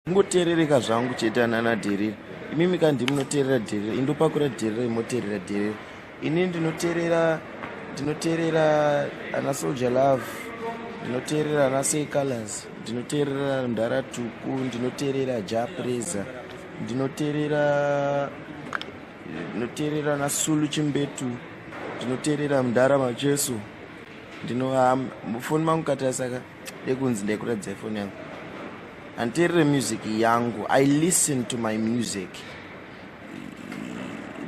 kungoteerereka zvangu chete anana dherere imimi kandi munoteerera dherere indopakura dherere imoteerera dherere ini ndinoteerera ndinoteerera ana soldier love ndinoteerera ana say colors ndinoteerera mdara tuku ndinoteerera japreza ndinoteerera ndinoteerera ana sulu chimbetu ndinoteerera mdara macheso ndino foni mangu katasaka Dekunzi ndekuratidza ifoni yangu. Handiterere music yangu. I listen to my music.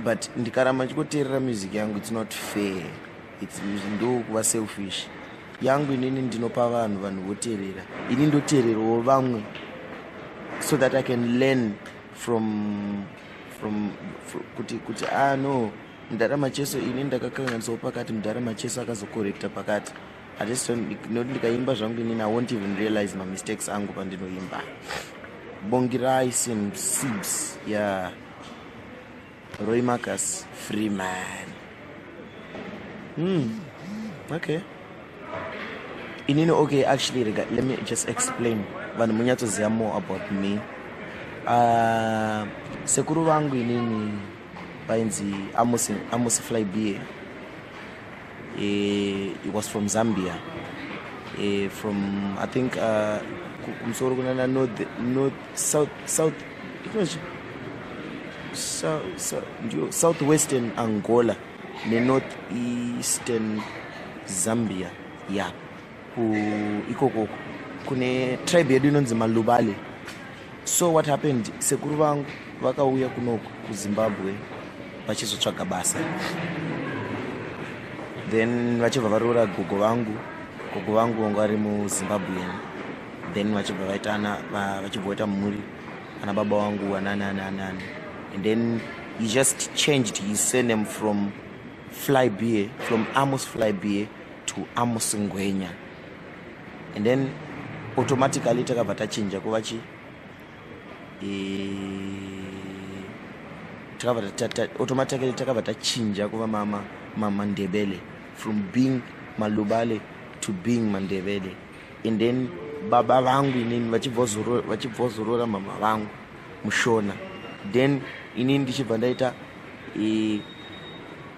But ndikaramba ndichikoterera music yangu it's not fair. It's ndo kuva selfish. Yangu inini ndinopa vanhu vanhu voterera. Ini ndotererawo vamwe so that I can learn from from, from kuti kuti ah no mdara macheso ini ndakakanganisawo pakati mdara macheso akazokorekta pakati I just don't not ndikaimba zvangu inini I won't even realize my mistakes angu pandinoimba Bongirai Sim Sibs yeah Roy Marcus Freeman Hmm okay inini okay actually rega let me just explain vanhu munyatsoziva more about me uh, sekuru vangu inini vainzi amosi flybeer eh, it was from zambia eh, from i think uh, kumusoro kunana north, north south south southwestern angola nenorth eastern zambia ya yeah. ikoko kune tribe yedu inonzi malubale so what happened sekuru vangu vakauya kunoku kuzimbabwe vachizotsvaga basa then vachibva varoora gogo vangu gogo vangu vanga vari muzimbabwean then vachibva vaitana vachibva vaita mhuri ana baba wangu anani ani ani ani and then he just changed his surname from fly beer from amos fly beer to amos ngwenya and then automatically takabva tachinja kuva chi e, automatically takabva tachinja kuva mama mama ndebele from being malubale to being mandebele and then baba vangu inini vachibvozorora mama vangu mushona then inini ndichibva ndaita e,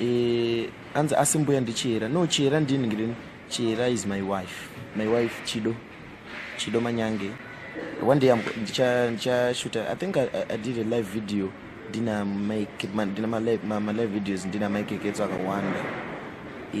Eh, anzi asi mbuya ndichihera no chihera ndini ngirini chihera is my wife my wife chido chido manyange one day ndichashuta i think I, i did a live video ndina mike ndina malive videos ndina mike ketso akawanda e,